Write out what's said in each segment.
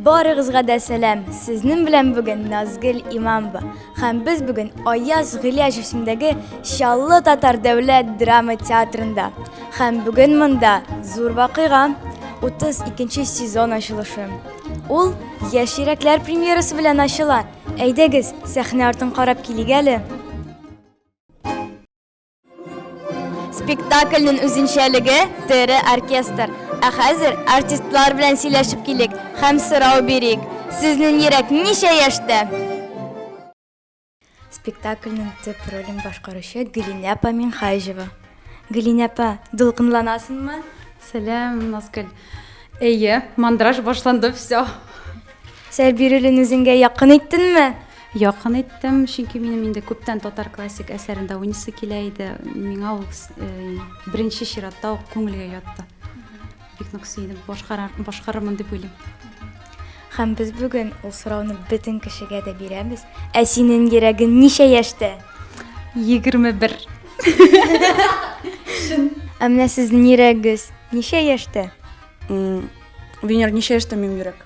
Барыгызга да сәлам. Сезнең белән бүген Назгөл Имамова. Һәм без бүген Аяз Гыляҗ исемендәге Чаллы татар дәүләт драма театрында. Һәм бүген монда зур вакыйга 32 сезон ачылышы. Ул Яшь йөрәкләр премьерасы белән ачыла. Әйдәгез, сәхнә артын карап килик әле. Спектакльнең үзенчәлеге тере оркестр. Ә хәзер артистлар белән сөйләшеп килик һәм сорау бирик. Сезнең йөрәк ничә яшьтә? Спектакльнең төп ролен башкаручы Гөлинә апа Минхаҗева. Гөлинә апа, дулкынланасыңмы? Сәлам, Назгөл. Әйе, мандраж башланды, все. Сәр бирелен үзеңгә якын иттеңме? Якын иттем, чөнки минем инде күптән татар классик әсәрендә уйныйсы килә иде. Миңа ул э, беренче чиратта ук күңелгә ятты. Бик нык сөендем, башкарырмын дип уйлыйм. Һәм без бүген ул сорауны бөтен кешегә дә бирәбез. Ә синең йөрәгең ничә яшьтә? 21. Шын. Ә менә сезнең йөрәгегез ничә яшьтә? Венер, ничә яшьтә минем йөрәк?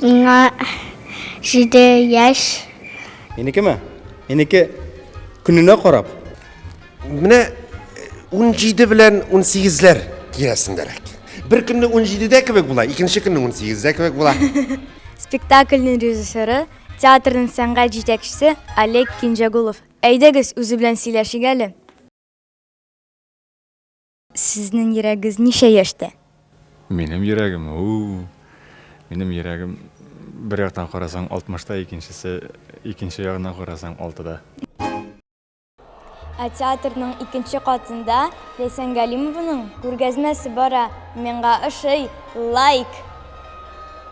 Миңа җиде яшь. Минекеме? Минеке көненә карап. Менә 17 э, белән 18ләр тирәсендәрәк. Бер көнне 17дә кебек була, икенче көнне 18дә кебек була. Спектакльнең режиссеры, театрның сәнгать җитәкчесе Олег Кинҗагулов. Әйдәгез, үзе белән сөйләшик әле. Сезнең йөрәгез ничә яшьтә? Минем йөрәгем, һу-у! Минем йөрәгем, бер яктан карасаң, алтмышта, икенчесе, икенче ягыннан карасаң, алтыда. Ә театрның икенче катында Ләйсән Галимованың күргәзмәсе бара. Миңа ошый. Лайк!